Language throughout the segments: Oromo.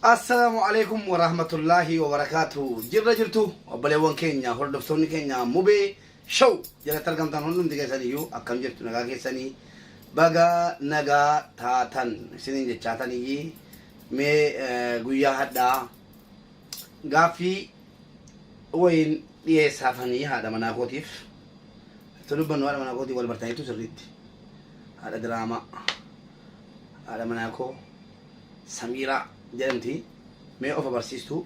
Assalaamu alaikum wa rahmatullaahi wa barakaatu. Jirra jirtu obboleewwan keenya hordoftoonni keenya mubee show jalatti argamtan hundumti keessan iyyuu akkam jirtu nagaa keessanii baga nagaa taatan isiniin jechaatan iyyii mee eh, guyyaa hadhaa gaaffii wayiin dhiyeessaafanii haadha manaa kootiif itti dubbannu haadha manaa kootii wal bartaniitu sirriitti haadha diraamaa. Haadha manaa koo Samiiraa jedhamti. Mee of agarsiistu.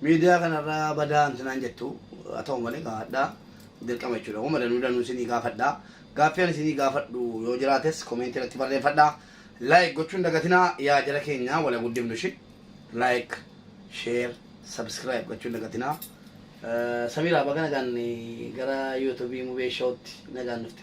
Miidiyaa kanarraa badaa mti naan jettu. Haa ta'u malee egaa hadha dirqama jechuudha. Wama danuu danuu isinii gaafadha. Gaaffii ani isinii gaafadhu yoo jiraates komeentii irratti barreeffadha. Like gochuu hin dagatinaa yaa jara keenya wala guddifnu ishi. Like, share, subscribe gochuu hin dagatinaa. Eh, Samiiraa baga nagaan eh, gara YouTube Mubee Show'tti nagaan dhufte.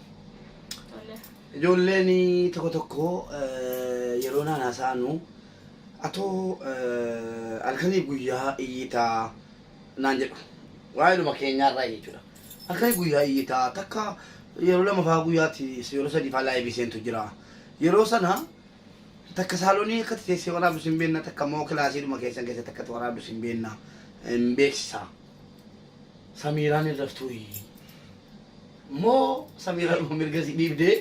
Ijoolleen tokko tokko yeroo naan haasa'anu atoo halkaniif guyyaa iyyitaa naan jedhu. Waa'eedhuma keenyaarraa jechuudha. Halkaniif guyyaa iyyitaa takka yeroo lama fa'aa guyyaatti yeroo sadii fa'aa laayivii seentu jira. Yeroo sana takka saalonii akkatti teessee waraabdus hin beekna takka immoo kilaasiidhuma keessan keessatti akkatti waraabdus hin beekna hin beeksisa. Samiiraan hin raftuuyi. Moo Samiiraadhuma mirga si dhiibdee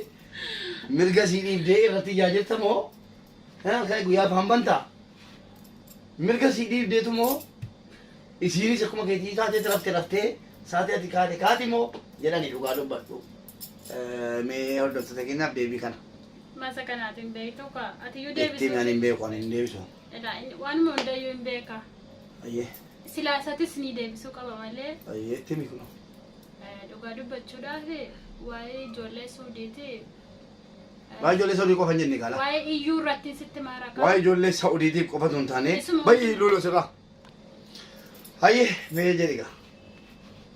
mirga si dhiibdee irratti iyyaa jirta moo kan halkan guyyaa afaan banta mirga si dhiibdeetu moo isiinis akkuma keetii taatee rafte raftee saatii ati kaate kaati moo jedhani dhugaa dubbadhu. Mee hordoftoota keenyaaf deebii kana Masa kanaatiin beektu kaa. Ati iyyuu itti deebisuu. ani hin beeku ani hin deebisu. Ilaa inni waanuma hundayyuu hin beeka. Ayyee. Silaa isatis ni deebisuu qaba malee. Ayyee itti himi kunoo. Eh, Dhugaa dubbachuudhaaf waa'ee ijoollee suudiiti. eh, Waa'ee ijoollee Saudii qofa hin jenne gaala. Waa'ee iyyuu irratti sitti maaraqa. Waa'ee ijoollee Saudiitiif qofa osoo hin taane Isuma- baay'ee luuloo sirraa. Hayyee mee jedhi gaa.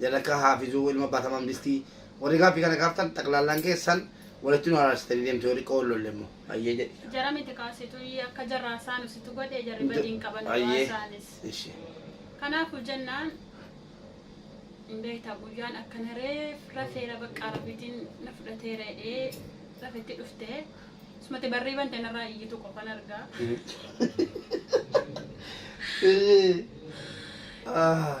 Jalakaa haafizuu ilma abbaa tamam distii Warri gaaffii kana gaaftan xaqlaallaan keessan walitti nu araarsitanii deemtu yoo xiqqoo wal lolle immoo hayyee jedhi. Jara miti kaa situ iyyee akka jarraa saanu situ godhe jarri badii hin qaban du'aa Hayyee saanis. ishi. Kanaafuu jennaan hin beektaa guyyaan akkana reef rafeera baqqaa rabbiitiin na fudhateera jedhee rafetti dhufte sumatti barrii bante narraa iyyitu qofan argaa. Ishi. Ah.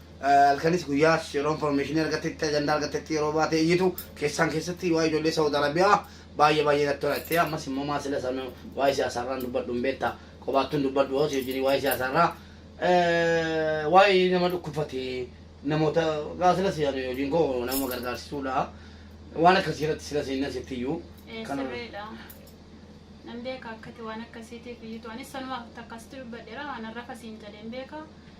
Halkanis guyyaas yeroo information argattetti, ajandaa argattetti yeroo baatee iyyitu keessaan keessatti waa'ee ijoollee Saawud Arabiyaa baay'ee baay'ee natti tola jettee ammas immoo maa sila sana waa'ee siyaasaarraan dubbadhu hin beekta qobaattuun dubbadhu hoos wajjin waa'ee siyaasaarraa waa'ee nama dhukkubfate namoota gaa sila siyaasa hojiin koo nama gargaarsisuudha waan akkasii irratti sila seenna sitti iyyuu kana Sirriidha. Nan beeka akkati waan akkasiitiif iyyuu ta'anis sanumaaf takka sitti dubbadheera waan har'a kasiin jedheen beeka.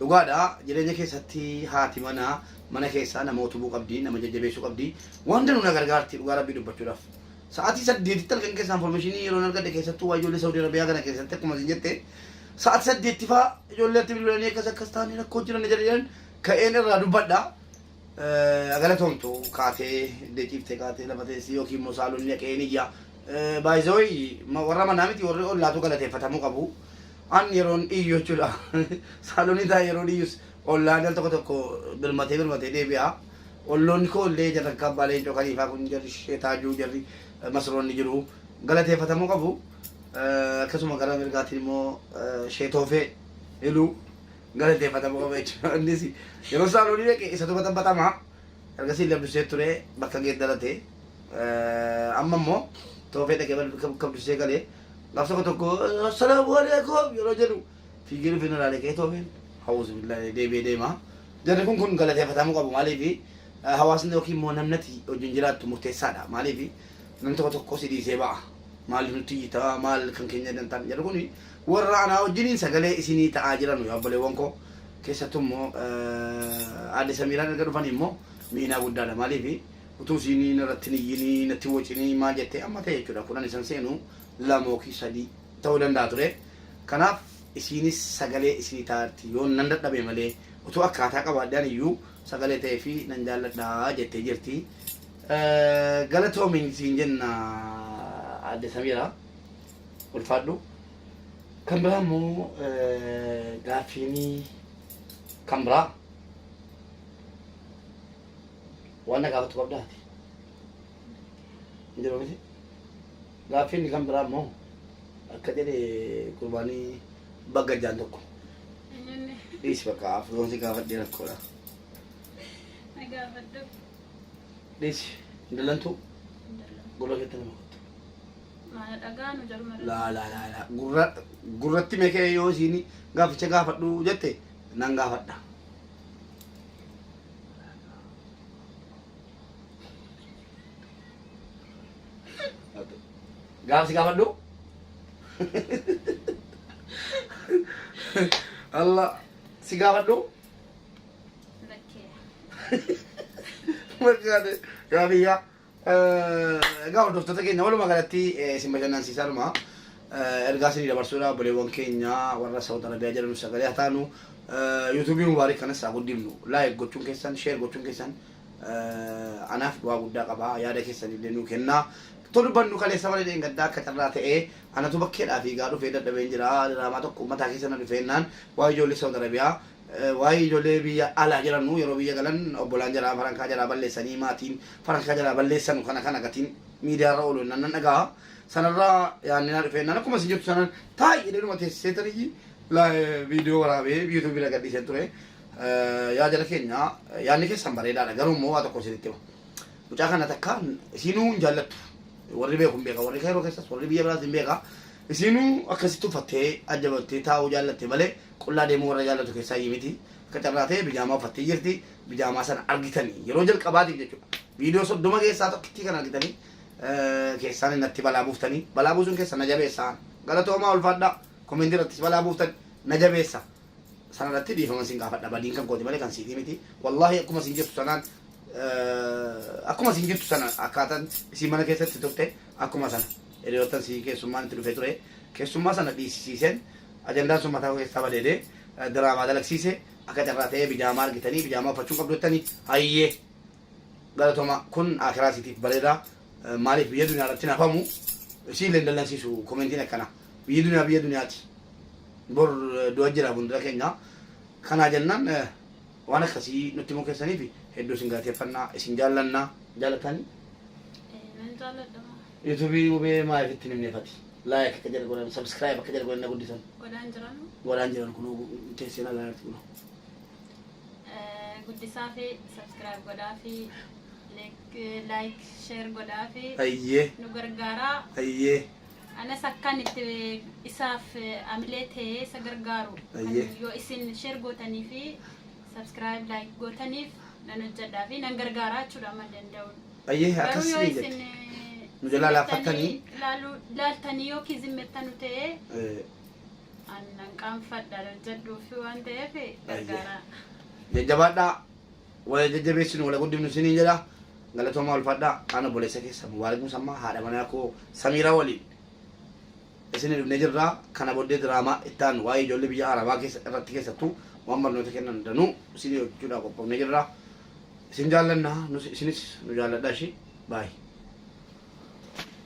Dhugaadha jireenya keessatti haati manaa mana keessaa nama utubuu qabdi, nama jajjabeessuu qabdi. Waan danuu na gargaarti dhugaa rabbii dubbachuudhaaf. Sa'aatii saddeetitti halkan keessaa informeeshinii yeroon argadhe keessattuu waa ijoollee Saudi Arabiyaa kana keessatti akkuma isin jette sa'aatii saddeetti faa ijoollee itti bilbilanii akkas akkas taane rakkoo jiran jedhan ka'een irraa dubbadha. Haa galatoomtu kaatee iddee ciiftee kaatee lafa teessii yookiin immoo saalonni dhaqee hin iyyaa. By the way ma- warra manaa miti warri ollaatu galateeffatamuu qabu. An yeroon iyyu jechuudha. Saalonni taa yeroon iyyus ollaan al tokko tokko birmatee birmatee deebi'a. Olloonni koo illee jarri akka abbaa leencoo kaliifaa kun jarri ishee taajuu jarri eh, masroonni jiru galateeffatamuu qabu. Eh, Akkasuma gara mirgaatiin immoo eh, ishee toofee iluu Galateeffatama qaba jechuudha. Innis yeroo Saalonii dhaqe isatu baxabaxamaa ergasii illee Abdusee ture bakka geeddarate amma immoo toofee dhaqee bakka bakka Abdusee galee gaaf tokko tokko salaamu aleekum yeroo jedhu fiigee dhufee na ilaalee ka'ee toofeen hawuusu billaalee deebi'ee deema. Jarri kun kun galateeffatamuu qabu maaliifi hawaasni yookiin immoo namnati wajjin jiraattu murteessaadha maaliifi namni tokko tokko si dhiisee ba'a maaliif nutti iyyitaa maal kan keenya dantaan jedhu kuni Worra anaa wajjiniin sagalee isinii ta'aa jiranu yaa obboleewwan koo, keessattuu immoo Aadde Samiiraan erga dhufanii immoo miinaa guddaa dha. Maaliif utuu isiin narratti hin iyyinii, natti hin wocinii maal jettee amma ta'e jechuudha kudhan isan seenu lama ykn sadii ta'uu danda'a ture. Kanaaf isiinis sagalee isinii ta'aarti. Yoon nan dadhabe malee, utuu akkaataa qabaadhee ani iyyuu sagalee ta'eefii nan jaalladha jettee jirti. Galatoomi siin jenna Aadde Samiiraa. ulfaadhu. Kan biraa immoo gaaffiinii kan biraa waan na gaafattu qabdaa ati? Hin jiru miti? Gaaffiin kan biraa immoo akka jedhe gurbaanii bagga jaan tokko Eenyuun dhiisi bakka afroon si gaafadhee rakkoodha. na gaafadhu. Dhiisi hin dallantuu Hin dallantu. gurra keetti nama kottu. Maana dhagaa nu jarmara. laa laa laa laa gurra gurratti mekee yoo isiin gaaficha gaafadhu jette nan gaafadha. Gaafsi gaafadhu. Allah si gaafadhu. Lakkee. Margaate gaafii yaa. Egaa hordoftoota keenya walumaa galatti isin bashannansiisaadhuma ergaa isinii dabarsuudha obboleewwan keenya warra Saawud Arabiyaa jedhanu sagalee haa taanu yuutuubii mubaarik kanas haa guddifnu laayik gochuun keessan sheer gochuun keessan anaaf bu'aa guddaa qaba yaada keessan illee nuu kennaa too dubbannu kaleessa malee dheengaddaa akka carraa ta'ee anatu bakkeedhaa fiigaa dhufee dadhabeen jira diraamaa tokko ummataa keessa na dhufeennaan waa ijoollee Saawud Arabiyaa Waayii ijolee biyya alaa jiranuu yeroo biyya galan obbolaan jaraa farankaa jaraa balleessanii maatiin farankaa jaraa balleessanu kana kana gatiin miidiyaa irra oolu nan dhagaha sanarra yaanni naa dhufee nan akkuma isin jirtu sanan taa'ii jedhee dhuma teessee taniyyi viidiyoo waraabee yuutuubii irra gadhiiseen ture yaa jara keenya yaanni keessan bareedaadha garuu immoo waa tokko isinitti hima mucaa kana takka isinuu hin jaallattu warri beeku hin beeka warri kairoo keessas warri biyya biraas hin beeka Isiinuu akkasitti uffattee, ajjabattee taa'uu jaallatte malee qullaa deemuu warra jaallatu keessaayyi miti. Akka carraa ta'ee bijaamaa uffattee jirti. Bijaamaa sana argitanii yeroo jalqabaatiif jechuudha. Viidiyoo 30 keessaa tokkittii kana argitanii keessaan innatti balaa buuftanii balaa buusuun keessan na jabeessa. Galatoomaa ulfaadhaa. Komentii irrattis balaa buuftan na jabeessa. sanarratti dhiifama sin gaafadha badiin kan kooti malee kan siitii miti wallaahi akkuma sin jirtu sanaan akkuma sin jirtu sana akkaataan isin mana keessatti turte akkuma sana hiriyoottan sii keessummaan itti dhufee ture keessummaa sana dhiisisiisen ajandaan sun mataa keessaa badeedee diraamaa dalagsiise akka carraa ta'ee bijaamaa argitanii bijaamaa uffachuu qabdu jettanii hayyee galatoma kun akiraa siitiif bareedaa maaliif biyya duniyaa irratti nafamu isiin leen dallansiisu komentiin akkanaa Biyyi duniyaa biyya duniyaati. Bor du'a jira fuuldura keenya. Kanaa jennaan waan akkasii nutti himuu keessaniif hedduu isin galateeffanna, isin jaallanna. Jaalatani? Ee, nan jaalladha moo. Yuutuubii Mubee maaliif itti hin himne fati? Like akka jara godhan, subscribe akka jara godhan na guddisan. Godhaan jiranu. Godhaan jiran kunoo teessee nagaa jirti kunoo. Eh, Guddisaa fi subscribe godhaa fi like, eh, like, share godhaa fi Ayyee, nu gargaaraa. ayyee. Anas akkan itti isaaf amilee ta'ee isa gargaaru kan Ayyee. yoo isin share gootanii fi subscribe like gootaniif nan hojjedhaa fi nan gargaaraa jechuudha amma danda'uun. Ayyee Garuu akkas yoo ni isin jette. eh, Nu jalaa zimmettanii laaffattanii. ilaaluu- ilaaltanii yookiin zimmettanu ta'ee Eh, an nan qaanfadha hojjedhuufi waan ta'eef gargaaraa. Jajjabaadhaa. Wal haa jajjabeessinu, wal haa guddifnu isiniin jedha. Galatoomaa ulfaadhaa. An obboleessa keessan Mubaarak Musammaa haadha manaa koo Samiiraa waliin isinii dhufnee jirra. Kana booddee diraamaa itti aanu waa'ee ijoollee biyya Arabaa keessa irratti keessattuu waan barnoota kennan danuu isinii hojjechuudhaaf qophoofnee jirra. Isin jaallanna nus isinis nu jaalladhaa ishii. Bye.